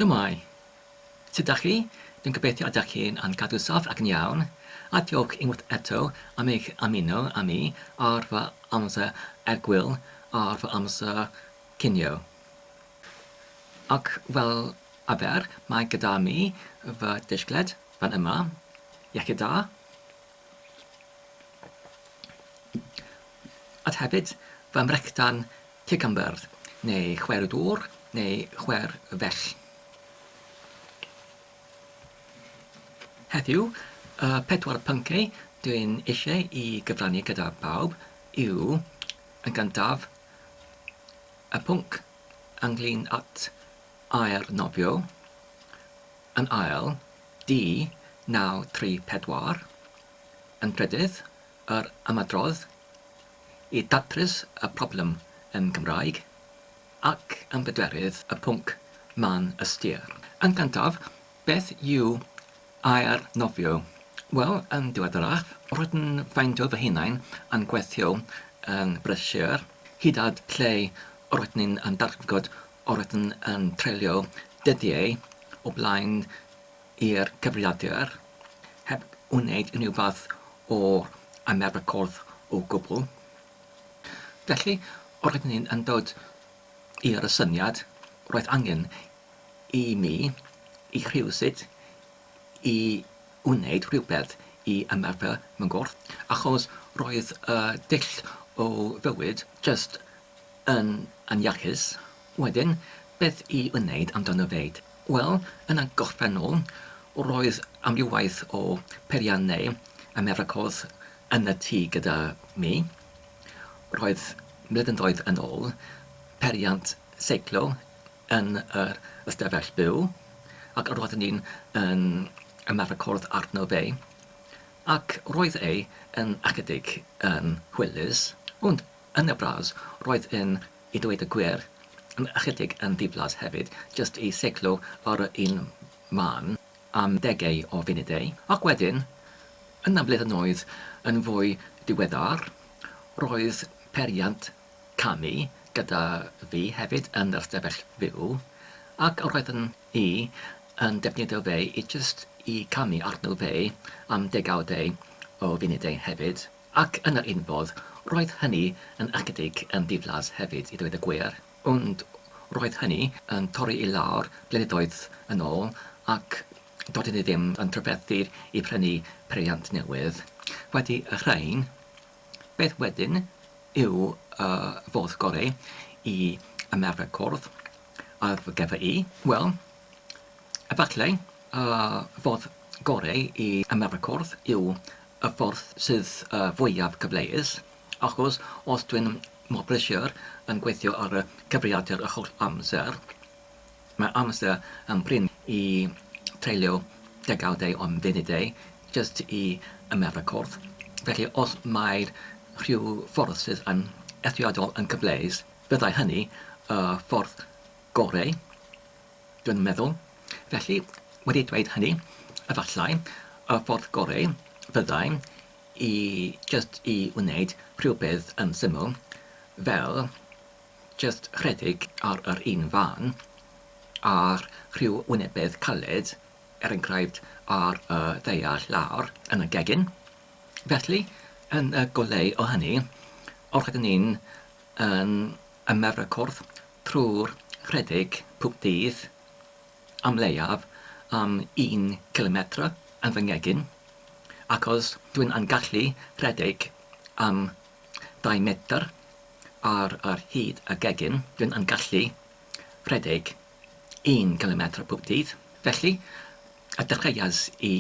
Shwmae! Sut dach chi? Dwi'n gobeithio y dach chi'n yn cadw saff ac yn iawn, a diolch unwaith eto am eich ymuno â mi ar fy amser egwyl ar fy amser cinio. Ac fel arfer, mae gyda mi fy disgled fan yma. Iechyd da! Ac hefyd fy mrechdan Cicambyrdd, neu chwer y dŵr, neu chwer y fell. Heddiw, y pedwar pynciau dwi'n eisiau i gyfrannu gyda bawb yw, yn gyntaf, y pwnc ynglyn at air nofio, yn ail, D934, yn drydydd, yr ymadrodd, i ddatrys y problem yn Gymraeg ac yn bedwerydd y pwnc man ystyr. Yn gyntaf, beth yw air nofio? Wel, yn ddiweddarach, rydyn ffeindio fy hunain yn gweithio yn brysur, hyd at lle rydyn ni'n darlgod rydyn yn treulio dyddiau o blaen i'r cyfrifiadur heb wneud unrhyw fath o ymarfer corff o gwbl. Felly, os ydyn ni yn dod i'r asyniad, roedd angen i mi, i rhywsut, i wneud rhywbeth i ymarfer fy nghorff, achos roedd y dull o fywyd jyst yn iachus. Wedyn, beth i wneud amdano fyd? Wel, yn y gorffennol, roedd amrywaeth o perian neu Americos yn y tŷ gyda mi. Roedd blynyddoedd yn ôl periant seiclo yn yr ystafell byw, ac roeddwn ni yn Americos arno fe, ac roedd e yn ychydig yn hwylus, ond Yn y bras, roedd yn, i ddweud y gwir, yn ychydig yn ddiflas hefyd, jyst i seiclo ar yr un man am ddegau o funudau, ac wedyn, yn y blynyddoedd yn fwy diweddar, roedd peiriant camu gyda fi hefyd yn yr ystafell fyw, ac roeddwn i yn defnyddio fe i jyst i camu arno fe am ddegawdau o funudau hefyd. Ac yn yr un fodd, roedd hynny yn ychydig yn ddiflas hefyd, i ddweud y gwir, ond roedd hynny yn torri i lawr blynyddoedd yn ôl ac doedden ni ddim yn trafferthu i brynu peiriant newydd. Wedi y rhain, beth wedyn yw y ffordd gorau i ymarfer cwrdd â fy gefr i? Wel, Efallai y ffordd gorau i ymarfer cwrdd yw y ffordd sydd fwyaf cyfleus, achos os dwi'n mor brysur yn gweithio ar y cyfrifiadur y holl amser, mae amser yn brin i treulio degawdau o funudau jyst i ymarfer cwrdd. Felly, os mae rhyw ffordd sydd yn eithriadol yn gyfleus, byddai hynny y ffordd gorau, dwi'n meddwl. Felly, wedi dweud hynny, efallai, y ffordd gorau fyddai i jyst i wneud rhywbeth yn syml, fel jyst rhedeg ar yr un fân â rhyw wynebedd caled, er enghraifft, ar y ddaear lawr yn y gegin. Felly, yn y goleu o hynny, os ydyn ni'n yn y merecordd trwy'r rhedeg pob dydd am leiaf am un cilometr yn fy ngegin, ac os dw i'n gallu rhedeg am dau metr ar hyd y gegin, dw i'n gallu rhedeg un cilometr pob dydd. Felly, y dechreuais i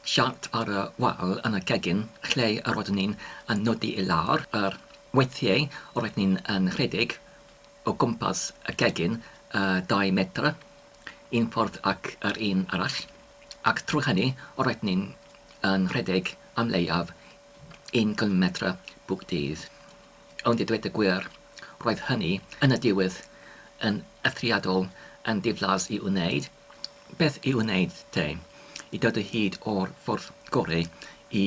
siart ar y wal yn y gegin lle yr oeddwn i'n nodi i lawr, yr weithiau roeddwn i'n rhedeg o gwmpas y gegin y dau metr, un ffordd ac yr un arall, ac trwy hynny roeddwn i'n rhedeg am leiaf un cilometr bob dydd. Ond i ddweud y gwir, roedd hynny, yn y diwedd, yn eithriadol yn ddiflas i'w wneud. Beth i'w wneud, te, i ddod o hyd o'r ffordd goreu i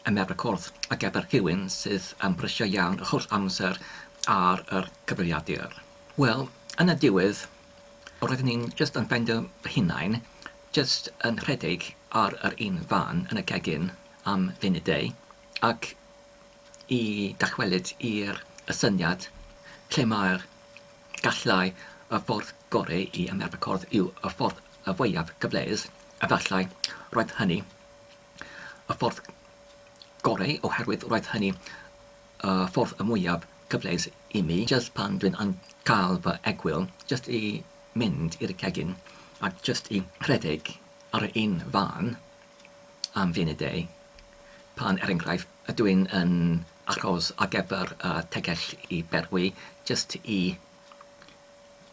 ymerawdcwrdd ar gyfer rhywun sydd am brysio iawn yr holl amser ar yr cyfrifiadur? Wel, yn y diwedd, roeddwn i'n jyst yn ffeindio fy hunain jyst yn rhedeg ar yr un fan yn y cegin am funud-deu, ac i ddychwelyd i'r y syniad lle mae'r gallau y ffordd gorau i ymarfer corff yw y ffordd y fwyaf cyfleus, efallai roedd hynny y ffordd gorau oherwydd roedd hynny y ffordd y mwyaf cyfleus i mi, jyst pan dwi'n yn cael fy egwyl, jyst i mynd i'r cegin a jyst i rhedeg ar yr un fan. am funudau, pan er enghraifft ydw i'n yn achos ar gyfer y tegell i berwi, jyst i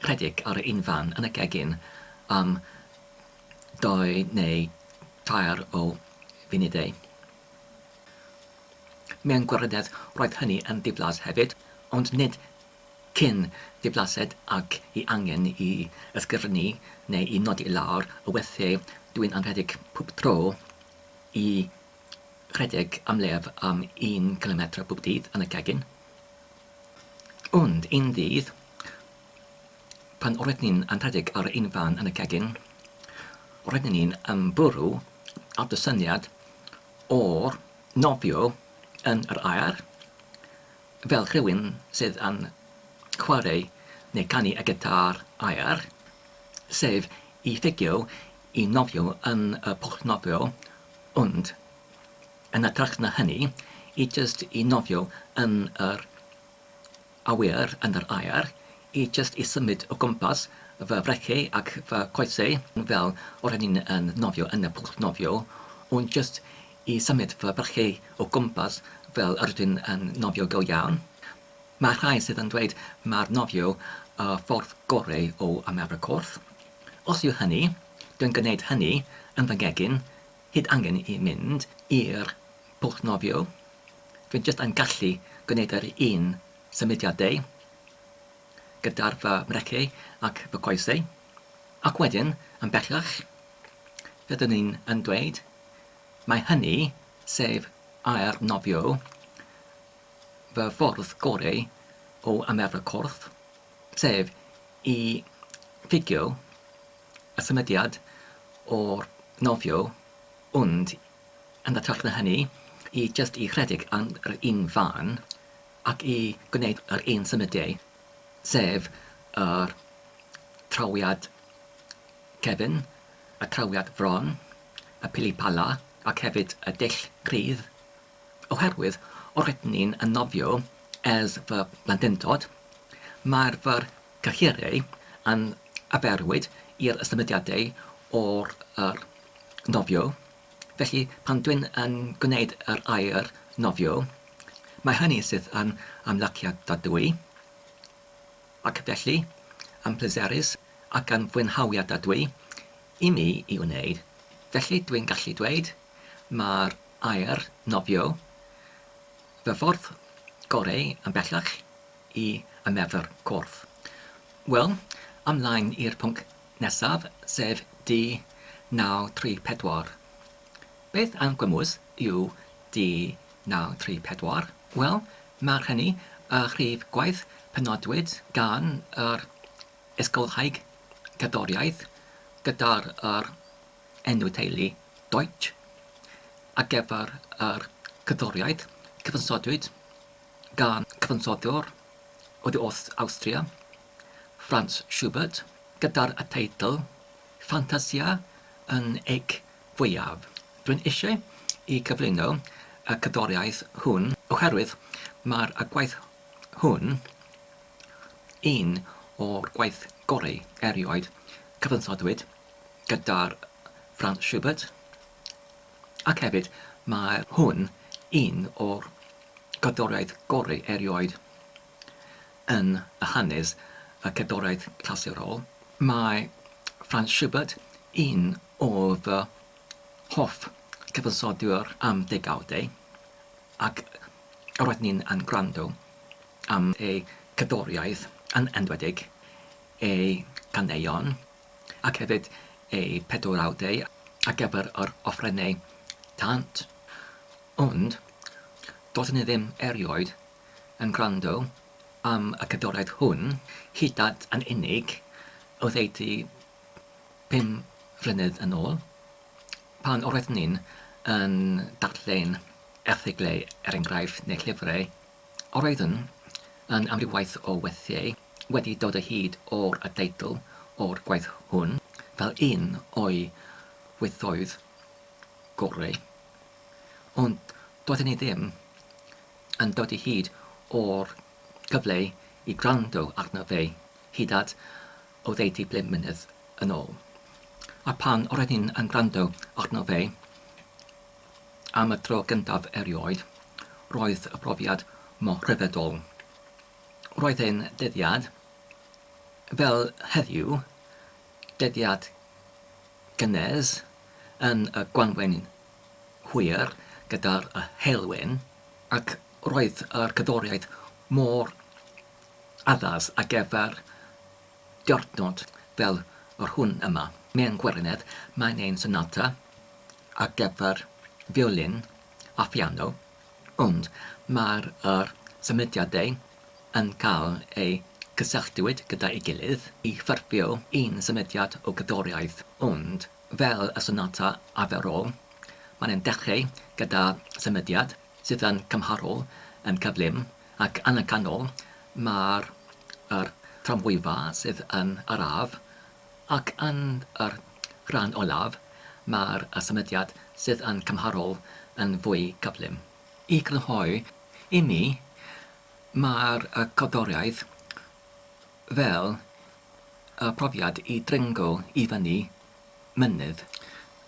rhedeg ar yr unfan yn y gegin am dou neu dair o funudau. Mewn gwirionedd roedd hynny yn ddiflas hefyd, ond nid cyn diflased ac i angen i ysgrifennu neu i nodi i lawr y weithiau dwi'n anrhedeg pob tro i redeg am leiaf am un cilometr pob dydd yn y gegin. Ond un ddydd, pan roedden ni'n anrhedeg ar un fan yn y gegin, roedden ni'n ymwrw ar dy syniad o'r nofio yn yr aer, Fel rhywun sydd yn chwarae neu ganu y gitâr aer, sef i ffugio i nofio yn y pwll nofio, ond yn hytrach na hynny, i jyst i nofio yn yr awyr, yn yr aer, i jyst i symud o gwmpas fy frechiau ac fy coesau fel ro'n i'n nofio yn y pwll nofio, ond jyst i symud fy brychiau o gwmpas fel yr ydw i'n nofio go iawn. Mae rhai sydd yn dweud mai'r nofio y ffordd gorau o ymarfer corff. Os yw hynny, dw i'n gwneud hynny yn fy ngegin, hyd angen i mynd i'r pwll nofio. Dw i'n jyst yn gallu gwneud yr un symudiad dei gyda'r fy mreciau ac fy coesau. Ac wedyn, yn bellach, rydyn ni yn dweud Mae hynny, sef air nofio, fy ffordd goreu o ymarfer corff, sef i figio y symudiad o'r nofio, ond yn hytrach na hynny, i jyst i rhedeg ar yr un fan ac i gwneud yr un symudiau, sef yr trawiad cefn y trawiad fron, y pilipala ac hefyd y dull cryf, oherwydd roeddwn ni'n yn nofio ers fy mhlentyndod, mae'r fy nghyrhaeddau yn arferwyd i'r symudiadau o'r yr nofio, felly pan dwi'n yn gwneud yr air nofio, mae hynny sydd yn ymlaciadadwy. Ac felly, yn pleserus ac yn fwynhawiad da dwi i mi i wneud, felly dwi'n gallu dweud, mae'r aer nofio fy ffordd goreu yn bellach i y Merthyr Corff. Wel, ymlaen i'r pwnc nesaf, sef D934. Beth am gwmws? UD934, wel, mae'r hynny a rhif gwaith penodwyd gan yr ysgolhaig cerddoriaeth gyda'r yr enw teulu Deutsch ar gyfer yr cerddoriaeth cyfansodwyd gan cyfansoddwr oddi wrth Awstria, Franz Schubert, gyda'r y teitl Fantasia yn Eich fwyaf. Rwy'n eisiau i gyflwyno y cerddoriaeth hwn oherwydd mae'r y gwaith hwn un o'r gwaith gorau erioed cyfansoddwyd gyda'r Franz Schubert ac hefyd mae hwn un o'r cerddoriaeth gorau erioed yn y hanes y cerddoriaeth clasurol. Mae Franz Schubert un O fy hoff gyfansoddiwr am ddegawdau, ac roedd ni'n yn gwrando am ei cerddoriaeth yn enwedig ei ganeuon ac hefyd ei pedwrawdau ar gyfer yr offerynnau tant, ond doeddwn i ddim erioed yn gwrando am y cerddoriaeth hwn hyd at yn unig oddeutu Pum mlynedd yn ôl, pan roeddwn ni'n yn darllen erthyglau er enghraifft neu llyfrau, roeddwn yn amrywiaeth o weithiau wedi dod o hyd o'r y deitl o'r gwaith hwn fel un o'i weithoedd gorau, ond doeddwn i ddim yn dod o hyd o'r cyfle i gwrando arno fe hyd at oddeutu ble mlynedd yn ôl. A phan roedd hyn yn gwrando arno fe am y tro gyntaf erioed, roedd y profiad mor ryfeddol. Roedd e'n dyddiad, fel heddiw, dyddiad gynnes yn y gwanwyn hwyr gyda'r heulwen, ac roedd yr cerddoriaeth mor Addas ar gyfer diwrnod fel yr hwn yma. Mewn gwirionedd, mae'n ein sonata ar gyfer fiolin a phiano, ond mae'r yr symudiadau yn cael eu cysylltiwyd gyda'i gilydd i ffurfio un symudiad o gerddoriaeth, ond fel y sonata arferol, mae'n dechrau gyda symudiad sydd yn cymharol, yn cyflym, Ac yn y canol mae'r yr tramwyfa sydd yn yr ardd, ac yn yr rhan olaf mae'r y symudiad sydd yn cymharol yn fwy cyflym. I grynhoi i mi, mae'r y cerddoriaeth fel y profiad i dringo i fyny mynydd.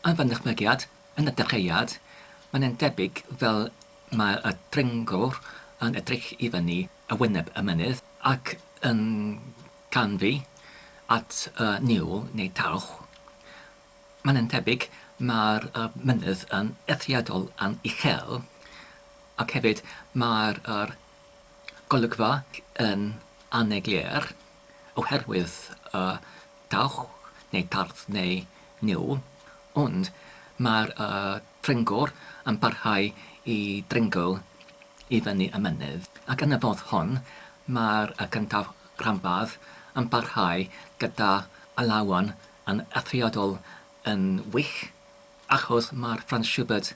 Yn fy nychmygiad, yn y dechreuad, mae'n debyg fel Mae y dringwr yn edrych i fyny y wyneb y mynydd ac yn canfu at y niwl neu dawch. Mae'n yn tebyg mae'r mynydd yn eithriadol yn uchel ac hefyd mae'r golygfa yn anneglur. oherwydd y dawch neu dardd neu niwl, ond mae'r dringwr yn parhau i ddringlo i fyny y mynydd, ac yn y fodd hon mae'r cyntaf rhanbarth yn parhau gyda alawon yn eithriadol yn wych, achos mae'r Franz Schubert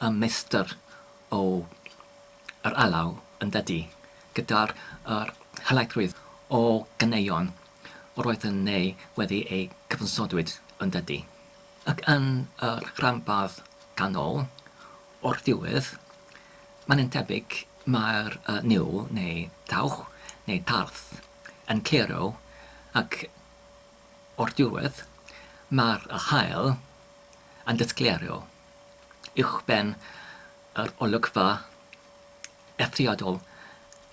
yn meistr o yr alaw yn dydy, gyda'r yr helaethrwydd o ganeuon yr oedden neu wedi eu cyfansodwyd yn dydy. Ac yn yr rhanbarth ganol, o'r diwedd, mae'n yn tebyg mae'r yy niwl neu dawch neu tarth yn clirio ac o'r diwedd mae'r yr haul yn disglirio uwchben Yr olygfa eithriadol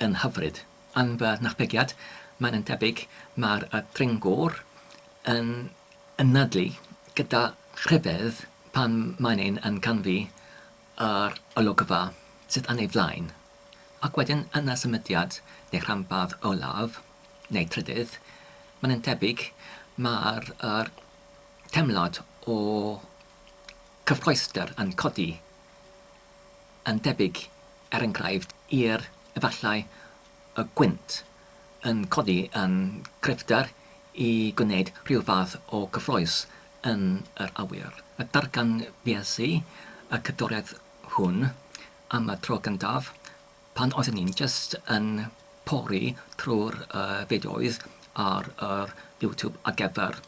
yn hyfryd. Yn fy nychmygiad, mae'n yn debyg mae'r dringwr yn anadlu gyda rhyfedd pan mae'n ein yn canfu yr olygfa sydd yn ei flaen, ac wedyn yn y symudiad neu rhanbarth olaf, neu trydydd, mae'n yn debyg mae'r teimlad o gyffroesder yn codi yn debyg er enghraifft i'r efallai y gwynt yn codi yn gryfder i gwneud rhyw fath o gyffrous yn yr awyr. Darganfues i y cadwraeth hwn am y tro gyntaf Pan oeddwn i'n jyst yn pori trwy'r fideos ar yr YouTube ar gyfer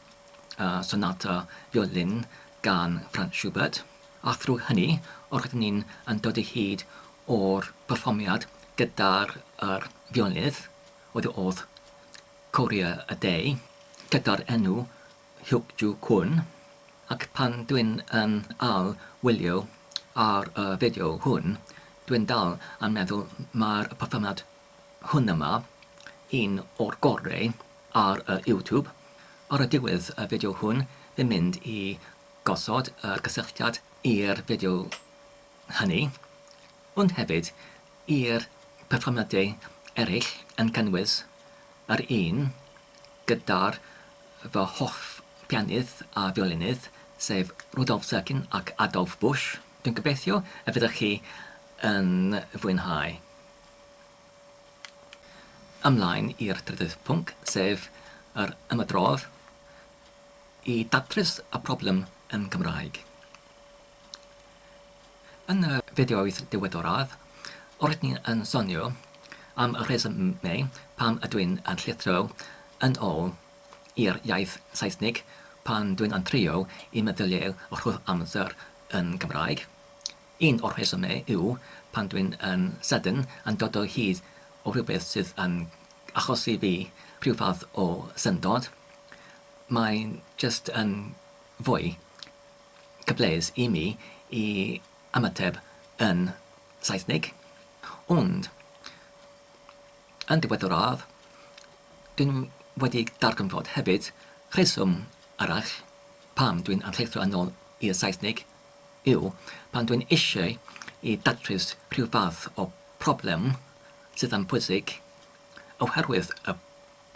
y Sonata Violin gan Franz Schubert, a thrwy hynny roeddwn i'n yn dod o hyd o'r perfformiad gyda'r yr fiolynydd oedd oedd Courier a Day gyda'r enw Hyuk-Joo Kwon ac pan dwi'n yn ail wylio ar y fideo hwn dwi'n dal yn meddwl mae'r perfformiad hwn yma un o'r gorau ar y YouTube. Ar y diwedd y fideo hwn fi'n mynd i gosod yr gysylltiad i'r fideo hynny ond hefyd i'r perfformiadau eraill yn cynnwys yr un gyda'r fy hoff bianydd a fiolinydd, sef Rudolf Serkin ac Adolf Busch. Dwi'n gobeithio y fyddwch chi yn fwynhau. Ymlaen i'r trydydd pwnc, sef yr ymadrodd i datrys y problem yn Gymraeg. Yn y fideoedd diweddaraf, rydyn ni yn sonio am y rhesymau pam ydw i'n llithro yn ôl i'r iaith Saesnig pan dwi'n yn trio i meddyliau rhodd amser yn Gymraeg. Un o'r rhesymau yw pan dwi'n yn sydyn yn dod o hyd o rhywbeth sydd yn achosi fi rhyw fath o syndod. Mae'n jyst yn fwy cyfleus i mi i ymateb yn Saesneg, ond yn ddiweddaraf dwi'n wedi darganfod hefyd rheswm arall pam dwi'n archeithro yn ôl i'r Saesneg yw pan dwi'n eisiau i datrys rhyw fath o problem sydd yn bwysig oherwydd y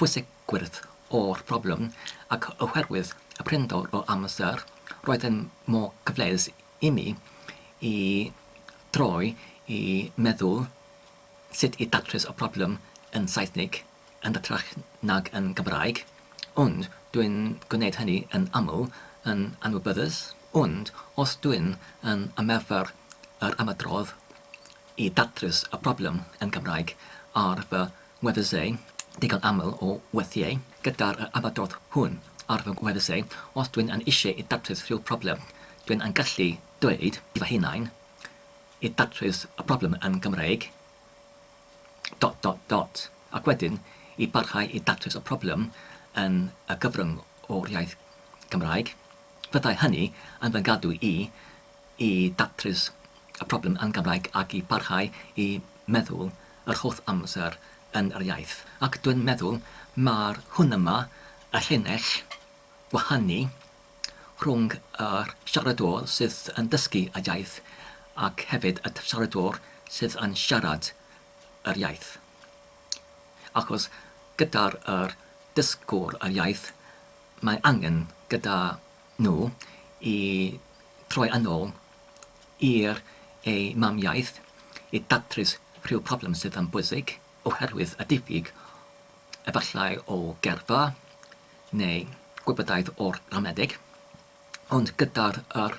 pwysigrwydd o'r broblem ac oherwydd y prinder o amser, roedd yn mor gyfleus imi i droi i meddwl sut i datrys y broblem yn Saesneg yn hytrach nag yn Gymraeg, ond dwi'n gwneud hynny yn aml yn anwybyddus, ond os dwi'n yn ymarfer yr ymadrodd i datrys y broblem yn Gymraeg ar fy Weddysau, digon aml o weithiau gyda'r yr abadodd hwn ar fy ngweddysau, os dwi'n yn eisiau i datrys rhyw problem, dwi'n yn gallu dweud i fy hunain, i datrys y problem yn Gymraeg, dot dot dot, ac wedyn i barhau i datrys y problem yn y gyfrwng o'r iaith Gymraeg, fyddai hynny yn fy ngadw i i ddatrys y problem yn Gymraeg ac i barhau i meddwl yr holl amser yn yr iaith. Ac dwi'n meddwl mai'r hwn yma, y llinell wahanu rhwng y siaradwr sydd yn dysgu y iaith ac hefyd y siaradwr sydd yn siarad yr iaith. Achos gyda'r yr dysgwr yr iaith mae angen gyda nhw i droi yn ôl i'r eu mamiaith i datrys rhyw broblem sydd yn bwysig oherwydd y diffyg efallai o gerddfa neu gwybodaeth o'r ramadeg, ond gyda'r yr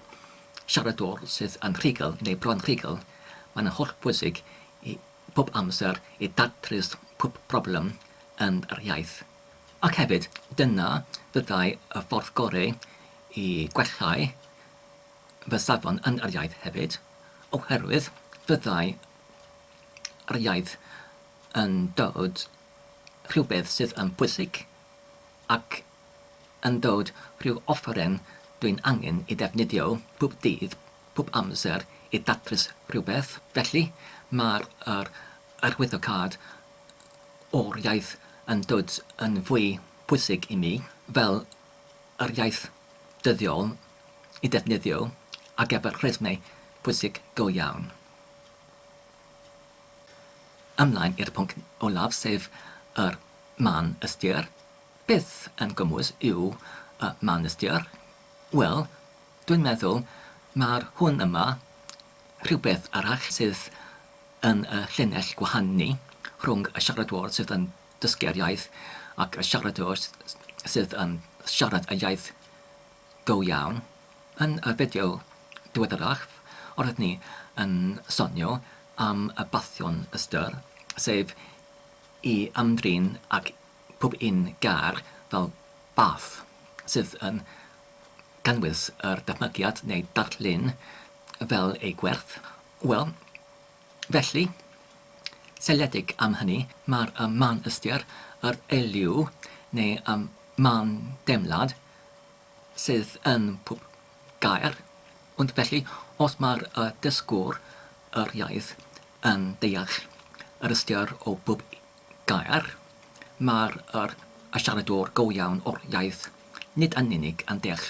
siaradwr sydd yn rhugl neu bron rhugl, mae'n holl bwysig i pob amser i datrys pob broblem yn yr iaith. Ac hefyd, dyna fyddai y ffordd gorau i gwellhau fy safon yn yr iaith hefyd, oherwydd fyddai yr iaith yn dod rhywbeth sydd yn bwysig ac yn dod rhyw offeren dwi'n angen ei ddefnyddio pob dydd, pob amser i ddatrys rhywbeth. Felly, mae'r arwyddocâd o'r iaith yn dod yn fwy pwysig i mi fel yr iaith dyddiol i ddefnyddio ar gyfer rhesymau pwysig go iawn. Ymlaen i'r pwnc olaf sef yr man ystyr. Beth yn gwmws yw y man ystyr? Wel, dwi'n meddwl mai'r hwn yma Rhywbeth arall sydd yn y llinell gwahanu rhwng y siaradwr sydd yn dysgu'r iaith ac y siaradwr sydd yn siarad y iaith go iawn, yn y fideo diweddaraf roeddwn ni yn sonio am y bathion ystyr, sef i ymdrin ag pob un gair fel bath sydd yn cynnwys yr dychmygiad neu darlun fel ei gwerth. Wel, felly, seiliedig am hynny, mae'r ym man ystyr yr eiliw, neu ym man deimlad, sydd yn pob gair, ond felly, os mae'r y dysgwr yr iaith yn deall yr ystyr o bob gair, mae'r yr y siaradwr go iawn o'r iaith nid yn unig yn deall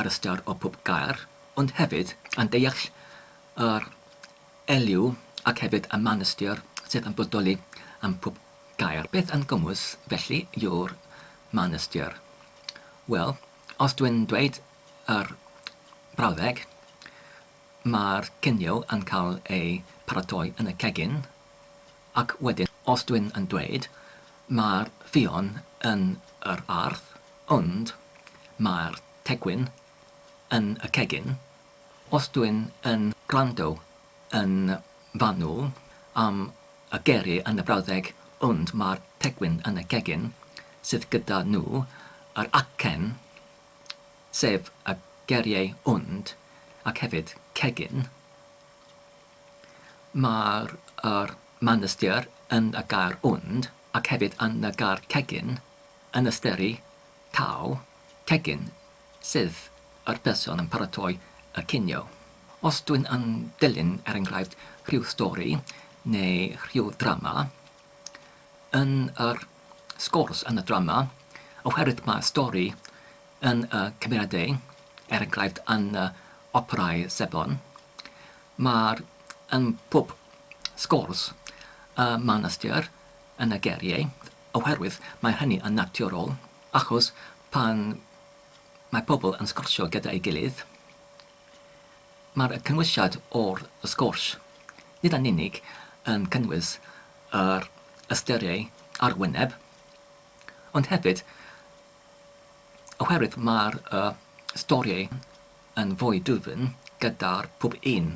yr ystyr o bob gair, Ond hefyd yn deall yr eliw ac hefyd y manystir sydd yn bodoli ym mhob gaer. Beth yn gymwys, felly, yw'r manystir? Wel, os dwi'n dweud yr brawddeg, mae'r cinio yn cael ei pharatoi yn y cegin, ac wedyn, os dwi'n yn dweud, mae'r ffion yn yr ardd, ond mae'r tegwyn yn y cegin, os dwi'n yn gwrando yn fanwl am y geiriau yn y brawddeg ond mae'r pegwyn yn y cegin sydd gyda nhw, yr acen, sef y geiriau ond ac hefyd cegin, mae'r yr man ystyr yn y gair ond ac hefyd yn y gair cegin yn ysteri Tau, tegin, sef yr person yn paratoi y cinio. Os dwyn yn dilyn er enghraifft rhyw stori neu rhyw ddrama, yn yr sgwrs yn y drama, oherwydd mae stori yn y cymeriadau, er enghraifft yn y operâu sebon, mae'r yn pob sgwrs y mae'n ystyr yn y geiriau, Oherwydd mae hynny yn naturiol, achos pan mae pobl yn sgwrsio gyda'i gilydd, mae'r cynwysiad o'r sgwrs nid yn unig yn cynnwys yr ystyriau ar wyneb, ond hefyd oherwydd mae'r storïau yn fwy dwfn gyda'r pob un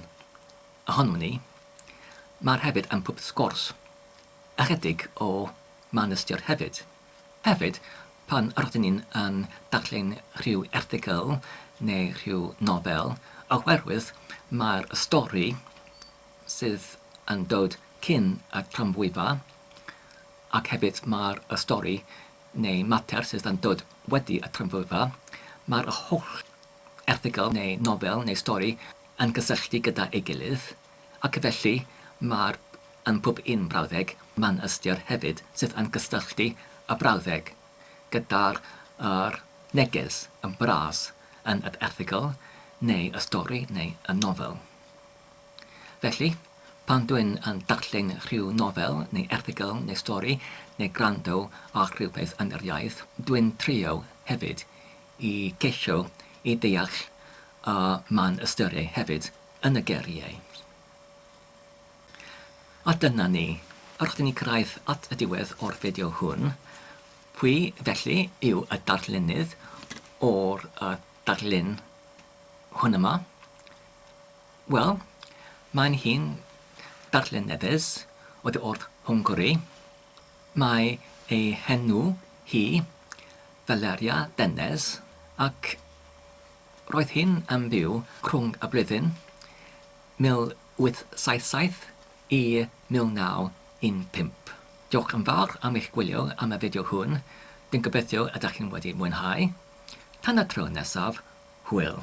ohonyn ni, mae'r hefyd yn pob sgwrs Ychydig o man ystyr hefyd. Hefyd, pan rydyn ni yn darllen rhyw erthygl neu rhyw nofel, oherwydd mai'r stori sydd yn dod cyn y tramwyfa, ac hefyd mai'r stori neu mater sydd yn dod wedi y tramwyfa, mae'r holl erthygl neu nofel neu stori yn cysylltu gyda'i gilydd. Ac felly, mae'r yn pob un brawddeg mae'n ystyr hefyd sydd yn cysylltu y brawddeg gyda'r yr neges yn bras yn yr erthygl neu y stori neu y nofel. Felly, pan dwi'n yn darllen rhyw nofel neu erthygl neu stori neu gwrando ar rhywbeth yn yr iaith, dwi'n trio hefyd i geisio i ddeall y mae'n ystyru hefyd. yn y geriau. A dyna ni, a rydyn ni'n cyrraedd at y diwedd o'r fideo hwn. Pwy, felly, yw y darllenydd o'r uh, darllen hwn yma? Wel, mae'n hi'n darllen newydd oedd o'r Hwngari. Mae ei henw hi Valeria Dennes ac Roedd hyn yn byw rhwng y blwyddyn 1877 i 1915. Diolch yn fawr am eich gwylio am y fideo hwn, dwi'n gobeithio y dach chi'n wedi mwynhau. Tan y tro nesaf, hwyl!